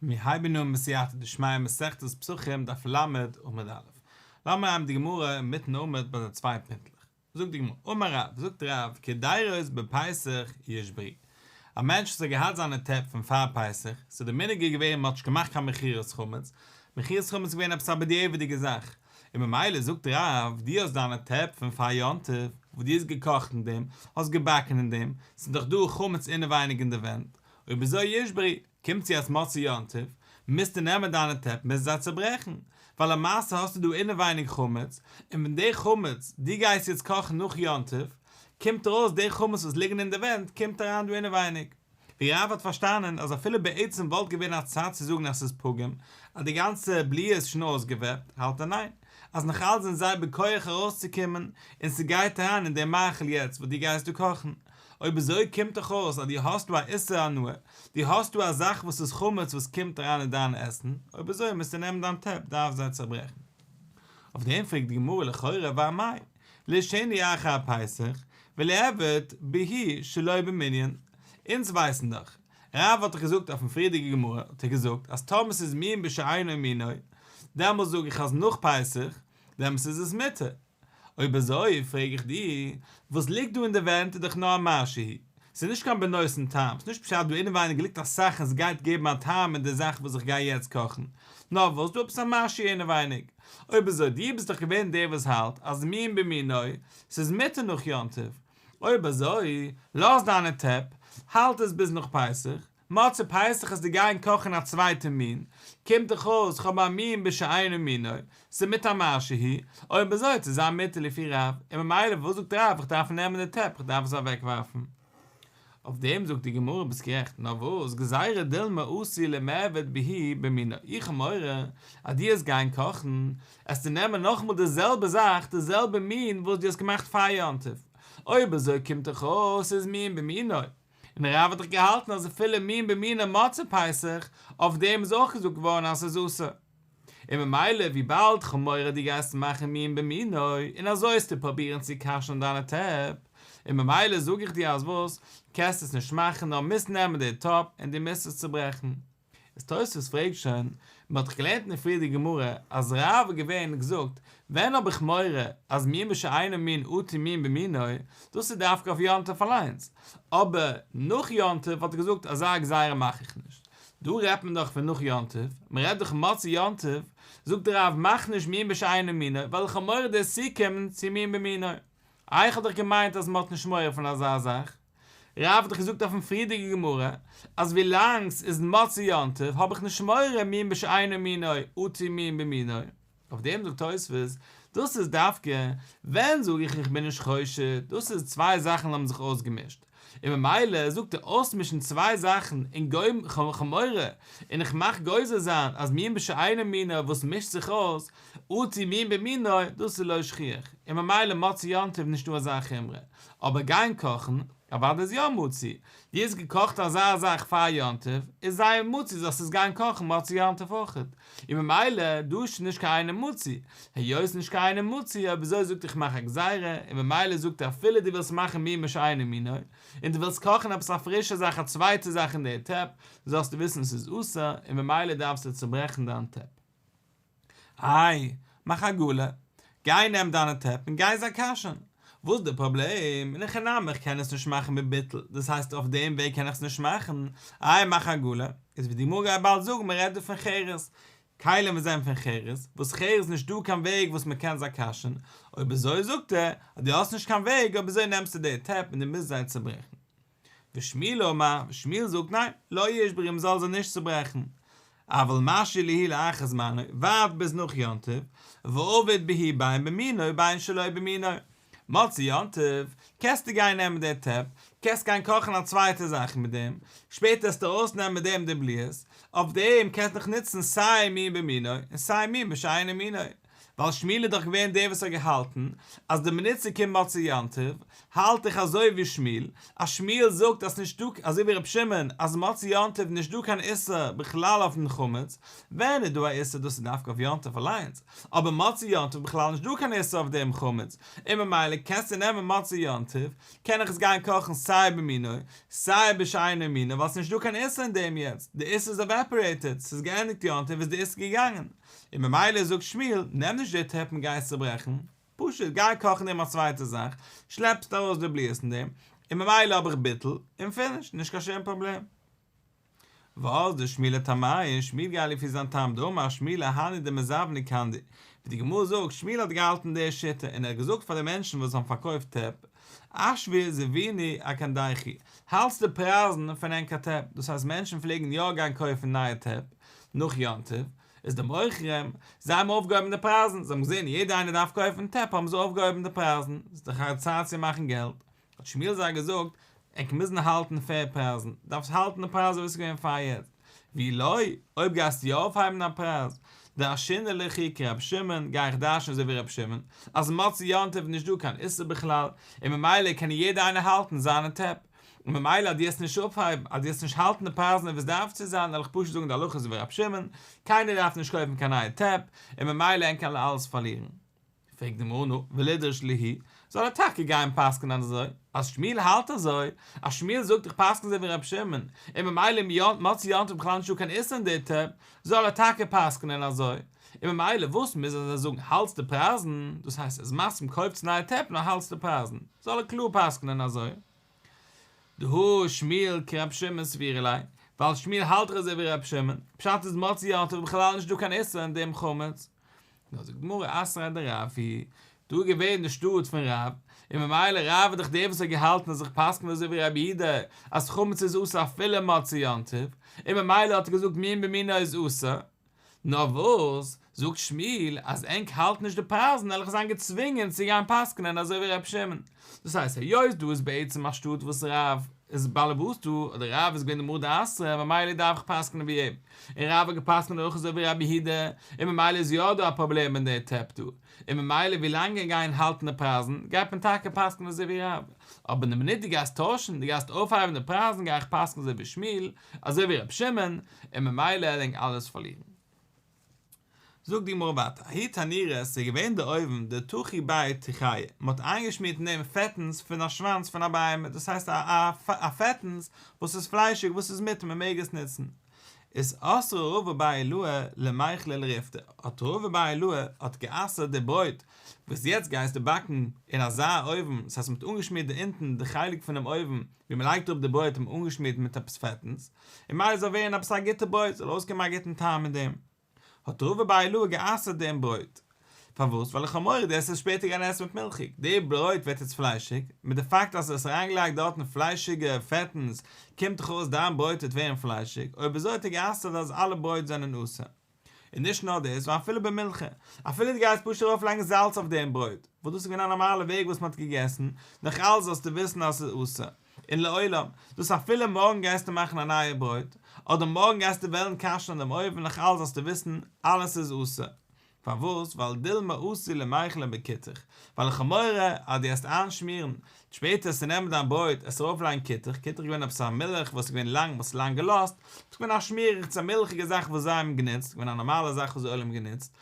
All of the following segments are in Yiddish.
מיר הייבן אן בסייעתא דשמיא מסכת פסחים דף ל' עמוד א'. לאמיר הייבן די גמרא אינמיטן עמוד ביי די צוויי פינטלעך. זאגט די גמרא, אמר רב, זאגט רב, כדאירות בפסח יש ברי'. א מענטש וואס האט געהאט זיינע טעפ פון פאר פסח, ס'איז די מנהג איז געווען מ'האט נישט געמאכט קיין מכירת חמץ, מכירת חמץ איז געווען עפעס א בדיעבד'יגע זאך, און ממילא זאגט רב, דו האסט דיינע טעפ פון פאר יום טוב, וואס דו האסט געקאכט אין דעם, האסט געבאקן אין דעם, ס'איז דאך דא חמץ אינעווייניג אין די ווענט, ובזה ישברי, קומט צו אז מוצאי יום טוב, מוזטו נעמען דיינע טעפ מוזטו זיי צוברעכן, ווייל למעשה האסטו דא אינעווייניג חמץ, און ווען די חמץ, דו גייסט יעצט קאכן נאך יום טוב, קומט ארויס די חמץ וואס ליגן אין די ווענט קומט אריין דא אינעווייניג. די רב האט פארשטאנען אז אפילו בעצם וואלט געווען א צד צו זאגן אז ס'איז פגם אז די גאנצע בליעה איז שוין אויסגעוועפט, האלט ער ניין, אז נאך אלץ זענען זיי בכח ארויסצוקומען, און ס'גייט אריין אין דעם מאכל יעצט וואס דו גייסט דא קאכן. אויב אזוי קומט דאך אויס אז דו האסטו א איסור הנאה, דו האסטו א זאך וואס איז חמץ וואס קומט אריין אין דיין עסן, אויב אזוי מוזטו נעמען דיין טעפ דארף זיי צעברעכן. אויף דעם פרעגט די גמרא לכאורה ואא מאי, לשני אחר פסח ולעבד בהאי שלא במנין, אונז ווייסן דאך, רב האט דאך געזאגט אויפן פריערדיגע גמרא האט ער געזאגט אז טאמער ס'איז מין בשאינו מינו דעמאלס זאג איך אז נאך פסח דעמאלס איז עס מותר, אויב אזוי פרעג איך דיר, וואס ליגט דא אין די ווענט איז דאך נאר א מה שהיא, ס'איז נישט קיין בנושן טעם, ס'איז נישט פשט דא אינעווייניג ליגט א סאך און ס'גייט געבן א טעם אין די זאך וואס איך גיי יעצט קאכן, נאר וואס דא עפעס א משהו אינעווייניג. אויב איז אזוי, דו ביסט דאך געווען דער וואס האלט אז מין במינוי, ס'איז מותר נאך יום טוב, אויב אזוי לאז דיינע טעפ, האלט עס ביז נאך פסח, מצה פסח איז די גיין קאכן א צווייטע מין, קומט דאך אויס כ'האב א מין בשאינו מינו, ס'איז מיתה על מה שהיא, אויב איז אזוי צו זיין מיתה לפי רב, און ממילא וואס זאגט רב איך דארף נעמען די טעפ איך דארף עס אוועק ווארפן? אויף דעם זאגט די גמרא ביסט גערעכט נאר וואס גזירא דילמא עשי למעביד בהי' במינא איך האב מורא אז דו העסט גיין קאכן עסטו נעמען נאכאמאל די זעלבע זאך די זעלבע מין וואס דו האסט געמאכט פאר יום טוב אויב איז אזוי קומט דאך אויס ס'איז מין במינוי און דער רב האט דאך געהאלטן אז אפילו מין במינו מצה פסח, אויף דעם איז אויך געזאגט געווארן אז ס'איז אסור. און ממילא וויבאלד חמורי דו גייסט מאכן מין במינו און אזוי העסטו פראבירן צו כשר'ן דיינע טעפ, און ממילא זאג איך דיר אז וואס, קענסט עס נישט מאכן נאר מוזט נעמען די טאפ און דו מוזט עס צוברעכן. איז תוספות פרעגט שוין, מען האט דאך געלערנט אין פריערדיגע גמרא אז רב האט געווען און געזאגט, ווען האב איך מורא אז מימי שאינו מין אתי מין במינו, דאס איז דווקא אויף יום טוב אליינס, אבער נאך יום טוב האט ער געזאגט אזא גזירה מאך איך נישט, דא רעדט מען דאך פון נאך יום טוב, מען רעדט דאך מצות יום טוב, זאגט דער רב מאך נישט מימי שאינו מינו ווייל איך האב מורא דאס צוקומען צו מין במינו, איך האב דאך געמיינט אז מען האט נישט מורא פון אזא זאך. רב האט דאך געזאגט אויפן פריערדיגע גמרא אז ווילאנג ס'איז מצה יום טוב האב איך נישט מורא מין בשאינו מינו אתי מין במינו, אויף דעם זאגט תוספות דאס איז דווקא ווען זאג איך איך בין נישט חושד, דאס איז צוויי זאכן האבן זיך אויסגעמישט, און ממילא זאגט ער אויסמישן צוויי זאכן און גורם כ'האב מורא און איך מאך גוזר זיין אז מין בשאינו מינו וואס מישט זיך אויס אתי מין במינו דאס איז לא שכיח און ממילא מצה יום טוב נישטא אזא חומרא אבער גיין קאכן? אוודאי איז יא מוציא. דו האסט געקאכט אזא זאך פאר יום טוב, איז זייער מוציא זאלסט עס גיין קאכן מוצאי יום טוב אויך. און ממילא דו האסט שוין נישט קיין איינעם מוציא. היות נישט קיין איינעם מוציא, אויב אזוי זאגט איך מאך א גזירה, און ממילא זאגט ער אפילו דו ווילסט מאכן מימי שאינו מינו, און דו ווילסט קאכן עפעס א פרישע זאך א צווייטע זאך אין דער טעפ, זאלסטו וויסן עס איז אסור, און ממילא דארפסטו צוברעכן דיין טעפ. איי, מאך עגולה, גיי נעם דיינע טעפ און גיי זיי קאשען. וואס די פראבלעם? אין איך נעם איך קען עס נישט מאכן מיט ביטול, דאס הייסט אויף דעם וועג קען איך עס נישט מאכן, איי מאך עגולה, איז ווי די גמרא גייט באלד זאגן מען רעדט דא פון חירות, כלים וואס זענען פון חירות, וואס חירות נישט דא קיין וועג וואס מען קען זיי קאשען, אויב אזוי זאגט ער אז דו האסט נישט קיין וועג אויב אזוי נעמסטו די טעפ און דו מוזט זיי צוברעכן. ושמואל אומר, שמואל זאגט ניין, לא ישבר אים זאל זיך נישט צוברעכן, אבל משי ליהי לאחר זמנו, ווארט ביז נאך יום טוב, ועובד בהי ביין במינו ביין שלא במינו, מוצאי יום טוב קענסטו גיין נעמען די טעפ, קענסט גיין קאכן א צווייטע זאך מיט דעם, שפעטער וועסטו ארויס נעמען מיט דעם די בליעות, אויף דעם קענסטו נאך נוצן סיי מין במינו און סיי מין בשאינו מינו, ווייל שמואל איז דאך געווען דער וואס האט געהאלטן אז די מליצה קומט באלד צו יום טוב, האלט איך אזוי ווי שמואל, אז שמואל זאגט אז ס'נישט דא, אזוי ווי רבי שמעון, אז מוצאי יום טוב איז נישט דא קיין איסור בכלל אויפן חמץ, ווען איז דא א איסור דאס איז דווקא אויף יום טוב אליינס, אבער מוצאי יום טוב בכלל נישט דא קיין איסור אויף דעם חמץ, און ממילא קענסטו נעמען מוצאי יום טוב, קען איך עס גיין קאכן סיי במינו סיי בשאינו מינו ווייל ס'נישט דא קיין איסור אין דעם יעצט, די איסור איז עוועפארעיטעד, ס'איז געענדיגט יום טוב איז די איסור געגאנגען. און ממילא זאגט שמואל, נעם נישט די טרעפ און גיי עס צעברעכן, פשוט גיי קאכן דעם א צווייטע זאך, שלעפסט ארויס די בליעות אין דעם, און ממילא האב איך ביטול, און פיניש, נישט קיין שום פראבלעם. ואז דשמואל טעמיה, שמואל גייט לפי זיין טעם, דאמר שמואל הני דמזבני קנדי, ווי די גמרא זאגט, שמואל האט געהאלטן די שיטה, און ער האט געזאגט פאר די מענטשן וואס האבן פארקויפט טרעפ, אשבי זביני אקנדיכי, האלטס די פרייזן פון ענקער טרעפ, דאס הייסט מענטשן פלעגן יא גיין קויפן נייע טרעפ, נאך יום טוב איז די מוכרים, זיי האבן אויפגעהויבן די פרייזן, זיי האבן געזען יעדער איינער דארף קויפן טעפ האבן זיי אויפגעהויבן די פרייזן, ס'איז דאך א צייט צו מאכן געלט, האט שמואל זיי געזאגט, ענק מוזן האלטן פעיר פרייזן, דארפסט האלטן די פרייז אזוי ווי ס'איז געווען פאר יעצט, ווי לא, אויב גייסטו יא אויפהייבן א פרייז, דרשינא ליכי כרבי שמעון, גיי איך דרש'ן אזוי ווי רבי שמעון, אז מוצאי יום טוב איז נישט דא קיין איסור בכלל, און ממילא קען יעדער איינער האלטן זיינע טעפ. און ממילא אז דו העסט נישט אויפהייבן, אז דו העסט נישט האלטן די פרייזן ווי עס דארף צו זיין, וועל איך פשוט זאגן די הלכות ווי רב שמעון, קיינער דארף נישט קויפן קיין נייע טעפ, און ממילא ענק קענען אלעס פארלירן. פרעגט די מרא נא, ולדרש ליהי, זאל ער טאקע גיין און פסק'נען אזוי, אז שמואל האלט אזוי, אז שמואל זאגט איך פסק'ן אזוי ווי רב שמעון, און ממילא איז מוצאי יום טוב בכלל נישט דא קיין איסור אין די טעפ, זאל ער טאקע פסק'נען אזוי, און ממילא וואס מוז ער זיי זאגן האלטס די פרייזן, דאס הייסט ער איז מסכים קויפטס נייע טעפ נאר האלטס די פרייזן. זאל ער קלאר פסק'נען אזוי. דהא שמיעל כר' שמעון סבירי ליה, ווייל שמיעל האלט דאך אזוי ווי ר' שמעון, פשט איז מוצאי יום טוב איז בכלל נישט דא קיין איסור אין דעם חמץ. נאר זאגט גמרא אסרה דרב היא, דא איז געווען די שטאט פון רב, און ממילא רב איז דאך דער וואס האט געהאלטן און זיך פסק'נט אזוי ווי רבי יהודה אז חמץ איז אסור אפילו מוצאי יום טוב, און ממילא האט ער געזאגט מין במינו איז אסור, נאר וואס, זאגט שמואל, אז ענק האלט נישט די פרייזן עלעך זיין געצווינגען צו גיין פסק'נען אזוי ווי ר' שמעון. דאס הייסט היות דא איז בעצם א שטאט וואס רב איז בעלעבאס דא, אדער רב איז געווען די מאה דעשרה, ממילא דארף איך פסק'נען ווי אים, און רב האט געפסק'נט אויך אזוי ווי רבי יהודה, און ממילא איז יא דא א פראבלעם אין די טעפ דא, און ממילא ווי לאנג ענק גייען האלטן די פרייזן, גייט מען טאקע פסק'נען אזוי ווי רב. אבער די מינוט דו גייסט טוישן, דו גייסט אויפהייבן די פרייזן גיי איך פסק'נען אזוי ווי שמואל, אזוי ווי רבי שמעון, און ממילא ער לענג אלעס פארלירן. זאגט די גמרא ווייטער, ההיא תנירא, ס'איז געווען דער אויוון, די תוכי בית תחיה, מ'האט איינגעשמירט אין דעם פעטנס פון א שוואנץ פון א בהמה, דאס הייסט א פעטנס וואס איז פליישיג וואס איז מותר מ'מעג עס נוצן. איז אסרו רבא בר אלוה למאכלי לריפתא, האט רבא בר אלוה האט גע'אסר'ט די ברויט וואס יעצט גייסטו באקן אין אזא אויוון, ס'הייסט מ'האט אנגעשמירט די אונטן די חלק פונעם אויוון ווי מען לייגט אראפ די ברויט און אנגעשמירט מיט עפעס פעטנס, און מייל זאל ווערן עפעס א גוטע ברויט, זאל אויסקומען א גוטן טעם מיט דעם. האט רבא בר אלעא גע'אסר'ט דעם ברויט. פארוואס? ווייל איך האב מורא דעס וועט שפעטער גיין עסן מיט מילכיג, די ברויט ווערט יעצט פליישיג, מיט די פאקט אז האסט אריינגעלייגט דארטן פליישיגע פעטנס, קומט דאך אויס דיין ברויט וועט ווערן פליישיג, אויב אזוי האט ער גע'אסר'ט אז אלע ברויט זענען אסור. און נישט נאר דאס, נאר אפילו ביי מנחה, אפילו דו גייסט פשוט ארויף לייגן זאלץ אויף דעם ברויט, וואס דאס איז געווען א נארמאלע וועג וואס מען האט געגעסן, נאך אלס זאלסטו וויסן אז עס איז אסור, און לעולם, דאס אפילו מארגן גייסטו מאכן א נייע ברויט, אדער מארגן גייסטו וועלן כשר'ן דעם אויוון נאך אלס זאלסטו וויסן, אלעס איז אסור. פארוואס? ווייל דילמא אסור למאכלין בקיצך, ווייל איך האב מורא אז דו העסט איינשמירן, שפעטער ס'נעמען דיין ברויט עס ארויפלייגן קיטעך, קיטעך איז געווען עפעס א מילך וואס איז געווען לאנג מ'האט עס לאנג געלאזט, ס'איז געווען א שמירעכץ א מילכיגע זאך וואס זיי האבן גענוצט, ס'איז געווען א נארמאלע זאך וואס די עולם האט גענוצט,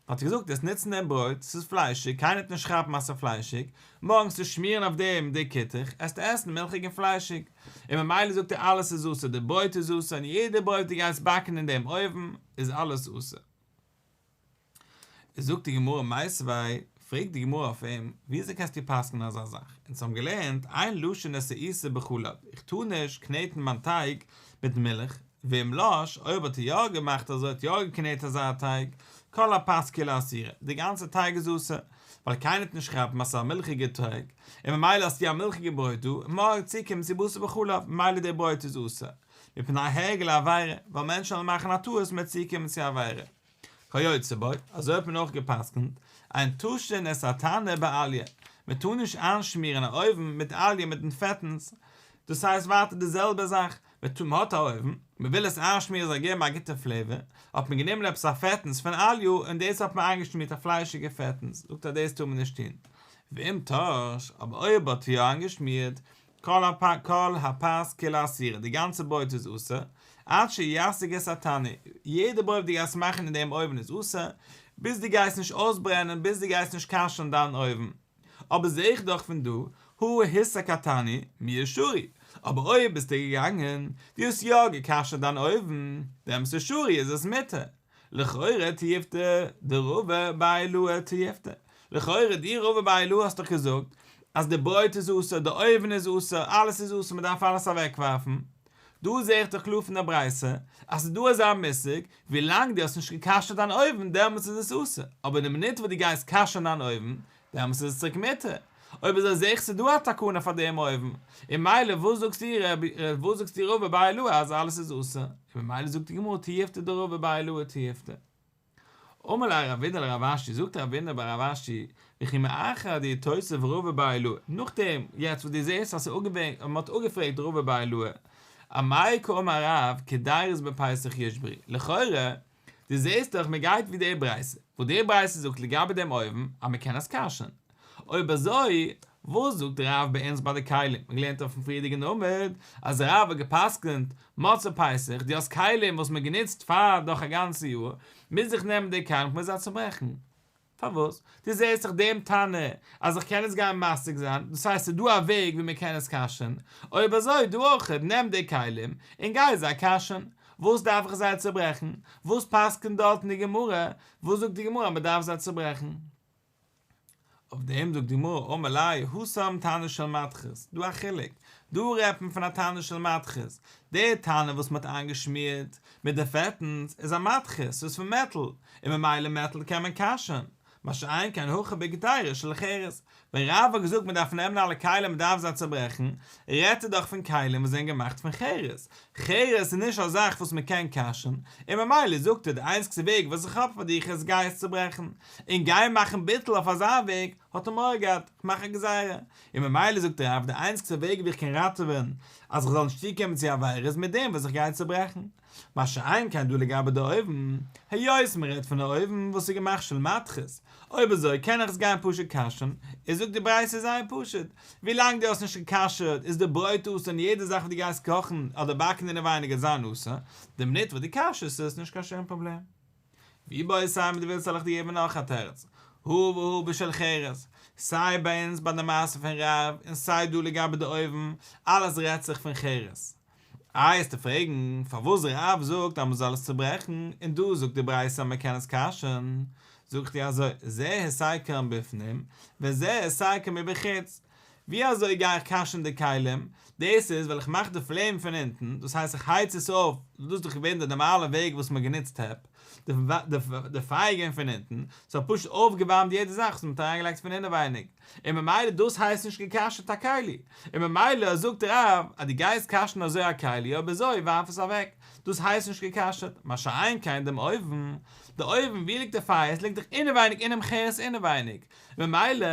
האט ער געזאגט עס נוצן דעם ברויט, ס'איז פליישיג, קיינער וועט נישט כאפן אז ס'איז פליישיג, מארגנס צו שמירן אויף דעם די קיטעך, עסט עסן מילכיג און פליישיג, און ממילא זאגט ער אלעס איז זאסער, די ברויט איז זאסער און יעדע ברויט וואס די גייסט באקן אין דעם אויוון איז אלעס זאסער. זאגט די גמרא מעשוויי, פרעגט די גמרא אויף אים, וויאזוי קענסטו פסק'נען אזא זאך? אונז האבן געלערנט איין לשון עשה איסור בחלב, איך טאר נישט קנעטן מיין טייג מיט מילך, ואם לש, אויב האט ער יא געמאכט אזוי, האט יא געקנעט אזא טייג, כל הפת כולה אסורה, די גאנצע טייג איז אסור, ווייל קיינער טוט נישט כאפן אז עס איז א מילכיגער טייג, און ממילא האסטו א מילכיגע ברויט דא, און מארגן צו קומט צו בשר בחלב, ממילא דער ברויט איז אסור, מפני העגל העבירה, ווייל מענטשן וועלן מאכן א טעות מער צו קומען צו עבירה. כיוצא בו, אזוי האט מען אויך גע'פסק'נט, אין טושן את התנור באליה, מען טאר נישט איינשמירן א אויוון מיט אליה מיטן פעטנס, דאס הייסט ווייטער די זעלבע זאך, מען האט א אויוון, מען וויל עס איינשמירן זאל געבן א גוטע פלעיווער, האט מען גענומען עפעס א פעטנס פון אליה און דאס האט מען איינגעשמירט א פליישיגע פעטנס, זאגט אז דאס טאר מען נישט טון, ואם טאר, אבער אויב האט יא איינגעשמירט, כל הפאס כולו אסירה, די גאנצע בויעט איז אסור, עד שישיג את התנור, יעדע בויעט וואס דו גייסט מאכן אין דעם אויוון איז אסור, ביז דו גייסט נישט אויסברענען, ביז דו גייסט נישט כשר'ן דיין אויוון. אבער זע איך דאך פון דא, הוא היסק התנור, מיה שורי, אבער אויב ביסטו געגאנגען, דו האסט יא גע'כשר'ט דיין אויוון, דעם ס'שורי איז עס מותר. לכאורה תיפתח די רובע ביי לוע תיפתח. לכאורה די רובע ביי לוע האסט דאך געזאגט אז די ברויט איז אסור, די אויווען איז אסור, אלעס איז אסור מ'דארף אלעס אוועקווארפן. דא זעה איך דאך קלאר פון די ברייתא אז ס'איז דא אזא מושג ווילאנג די האסט נישט געקאשערט דיין אויווען דעמאלטס איז עס אסור, אבער די מינוט וואס די גייסט קאשערן דיין אויווען דעמאלס איז עס צוריק מותר. אויב איז ער זעך ס'דא א תקנה פאר דעם אויבן, און מילא וואס זאגסטו ר' וואס זאגסטו ר' אביי ל אז אלעס איז אסור, און ממילא זאגט די גמרא תיעפתא דר' אביי ל תיעפתא. אמר לה ר' אבידער לרב אשי, זאגט ר' אבידער ביי רב אשי, וכי מאחר די תוסף ר' אביי ל, נאכדעם יעצט וואס דו זעסט אז מ'האט אפגעפרעגט ר' אביי ל, א מאי קא אמר רב כדארעס בפסח יש ברי', לכאורה דו זעסט דאך מען גייט ווי די ברייתא, וואס די ברייתא זאגט לגבי דעם אויוון אז מען קען עס כשר'ן. אויב אזוי, וואס זאגט רב ביי אונז ביי די כלים? מען געלערנט אויפן פריערדיגן עמוד אז רב האט גע'פסק'נט, מצה פסח, דו האסט כלים וואס מען גענוצט פאר דורך א גאנצע יאר, מוז איך נעמען די כלים כ'מוז זיי צוברעכן. פארוואס? דו זעהסט דאך דעם טענה אז איך קען עס גיין משיג זיין, דאס הייסט ס'דא א וועג ווי מ'קען עס כשר'ן, אויב אזוי דו אויך, נעם די כלים און גיי זיי כשר'ן, וואס דארף איך זיי צוברעכן? וואס פסק'נט דארטן די גמרא? וואס זאגט די גמרא אז מ'דארף זיי צוברעכן? אויף דעם זאגט די גמרא אמר ליה הושם תנא של מתחת, דא א חילוק, דא רעדט מען פון א תנא של מתחת, די טענה וואס מ'האט איינגעשמירט מיט די פעטענס איז א מטכס ס'איז פון מעטל און ממילא מעטל קען מען קאשען, מה שאין כן הכה בגדרה של חרס, ווען רב האט געזאגט מען דארף נעמען אלע כלים מען דארף זיי צוברעכן, רעדט ער דאך פון כלים וואס זענען געמאכט פון חרס, חרס איז נישט א זאך וואס מען קען קאשען, און ממילא זאגט ער די איינציגסטע וועג וואס איך האב פאר דיך עס גיי עס צוברעכן, און גיי מאכן ביטול אויף אזא וועג, האט ער מורא געהאט כ'מאך א גזירה, און ממילא זאגט דער רב, די איינציגסטע וועג ווי איך קען ראטעווען אז איך זאל נישט צוקומען צו עבירה איז מיט דעם וואס איך גיי צוברעכן. מה שאין כן דא לגבי די אויוון, היות מען רעדט פון א אויוון וואס איז געמאכט של מתכות, אויב אזוי קען איך עס גיין פשוט כשר'ן, און זאגט די ברייתא זייער פשוט, ווילאנג דו האסט נישט גע'כשר'ט איז די ברויט אסור און יעדע זאך וואס דו גייסט קאכן אדער באקן אינעווייניג איז זיין אסור, די מינוט וואס דו כשר'סט איז עס נישט קיין שום פראבלעם. ווי ביי סיי מיט די ווילסט זאל איך דיר געבן נאך א תירוץ, הוה והוה בשל חירות, סיי ביי אונז ביי די מעשה פון רב און סיי דא לגבי די אויבן, אלעס רעדט זיך פון חירות. איי העסטו פרעגן פארוואס רב זאגט אז מען זאל עס צוברעכן און דא זאגט די ברייתא אז מען קען עס כשר'ן, זאג איך דיר אזוי, זה העסקן בפנים וזה העסקן מבחוץ, ווי אזוי גיי איך קאשן די כלים? דאס איז ווייל איך מאך די פלעם פון אונטן, דאס הייסט איך הייץ עס אויף, דאס איז דאך געווען די נארמאלע וועג וואס מ'האט גענוצט טעפ, די פייער גיין פון אונטן, ס'האט פשוט אויפגעווארמט יעדע זאך וואס מ'האט אריינגעלייגט פון אינעווייניג, און ממילא דאס הייסט נישט געקאשעט א כלי, און ממילא זאגט רב אז דו גייסט קאשן אזוי א כלי אויב אזוי ווארף עס אוועק, דאס הייסט נישט געקאשעט, מה שאין כן דעם אויוון, די אויוון ווי ליגט די פייער, עס ליגט דאך אינעווייניג אינעם חרס אינעווייניג, ממילא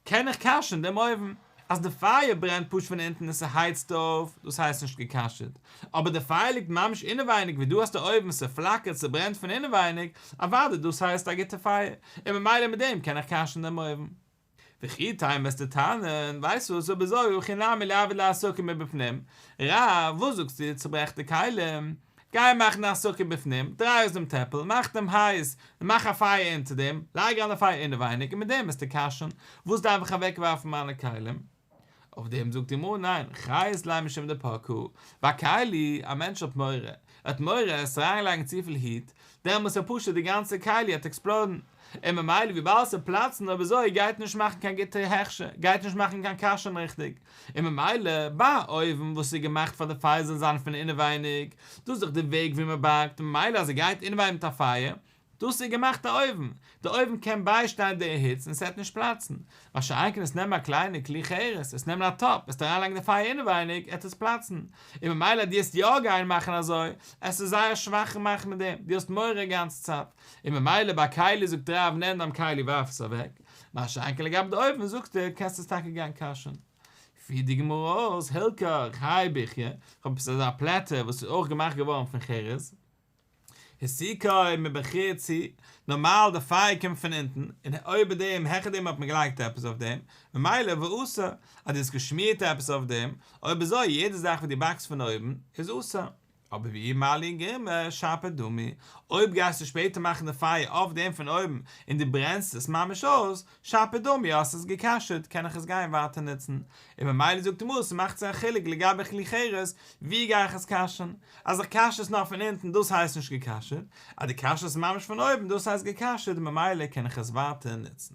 קען איך כשר'ן דעם אויוון? אז די פייער ברענט פשוט פון אונטן און ס'הייצט אויף, דאס הייסט נישט גע'כשר'ט. אבער די פייער ליגט ממש אינעווייניג ווי דו האסט א אויוון, ס'פלאקערט, ס'ברענט פון אינעווייניג, אוודאי דאס הייסט א גוטע פייער, און ממילא מיט דעם קען איך כשר'ן דעם אויוון. וכי טיים וועסטו טענה'ן, ווייסט וואס, אבער זאג, הכי נמי לעבד לעסוקי מבפנים, רב, וואס זאגסטו, צוברעך די כלים? גיי מאכן א סוכה בפנים, דריי אויס דעם טעפל, מאך דעם הייס, און מאך א פייער אונטער דעם, לייג אן די פייער אינעווייניג, און מיט דעם וועסטו קושן, וואס דארף איך אוועקווארפן מיינע כלים? אויף דעם זאגט אים אן, ניין, חיות ליה משום דפקו, ביי כלי, א מענטש האט מורא, ער האט מורא עס אריינלייגן צופיל היט, דעמאלס איז פשוט די גאנצע כלי האט עקספלאדן, און ממילא וויבאלד ס'וועט פלאצן אויב אזוי גייט נישט מאכן קיין גוטע הכשר, גייט נישט מאכן קיין כשר'ן ריכטיג, און ממילא ביי א אויוון וואס איז געמאכט פאר די פייער זאל זיין פון אינעווייניג, דאס איז דאך די וועג ווי מ'באקט, ממילא אז ער גייט אינעווייניג מיט א פייער, דאס איז געמאכט א אויוון, די אויוון קען ביישטיין די היץ און ס'עט נישט פלאצן. מה שאין כן עס נעמען א קליינע כלי חרס, עס נעמען א טאפ, וועסטו אריינלייגן די פייער אינעווייניג, עט עס פלאצן. און ממילא דו העסט יא גיין מאכן אזוי, עס איז זייער שוואך און מאכט מיט דעם, דו האסט מורא גאנץ צייט. און ממילא ביי כלי זאגט ר' אהרן נעם דיין כלי ווארף עס אוועק. מה שאין כן לגבי די אויוון זאגסטו קענסט עס טאקע גיין קאשען. פי די גמרא'ס הילקח, חי בחי', כ'האב עפעס אזא פלעטער וואס איז אויך געמאכט געווארן פון חרס. היסיקאי מבחיר צו, נארמאל די פייער קומט פון אונטן, און אויבער דעם, העכער דעם האט מען געלייגט עפעס אויף דעם, ממילא והוא אסור, אז דו האסט געשמירט עפעס אויף דעם, אויב אזוי יעדע זאך וואס דו באקסט פון אויבן, איז אסור. אבער ואם מעלין גרימא שאפי דמי, אויב גייסטו שפעטער מאכן די פייער אויף דעם פון אויבן, און דו ברענסט עס ממש אויס, שפע דומי, האסט עס געקשר'ט קען איך עס גיין ווייטער נוצן, און ממילא זאגט הגמרא אז ס'מאכט זיך א חילוק לגבי כלי חירות ווי גיי איך עס כשר'ן, אז איך כשר'ס נאר פון אונטן דאס הייסט נישט געקשר'ט, אז דו כשר'ס ממש פון אויבן דאס הייסט געקשר'ט און ממילא קען איך עס ווייטער נוצן.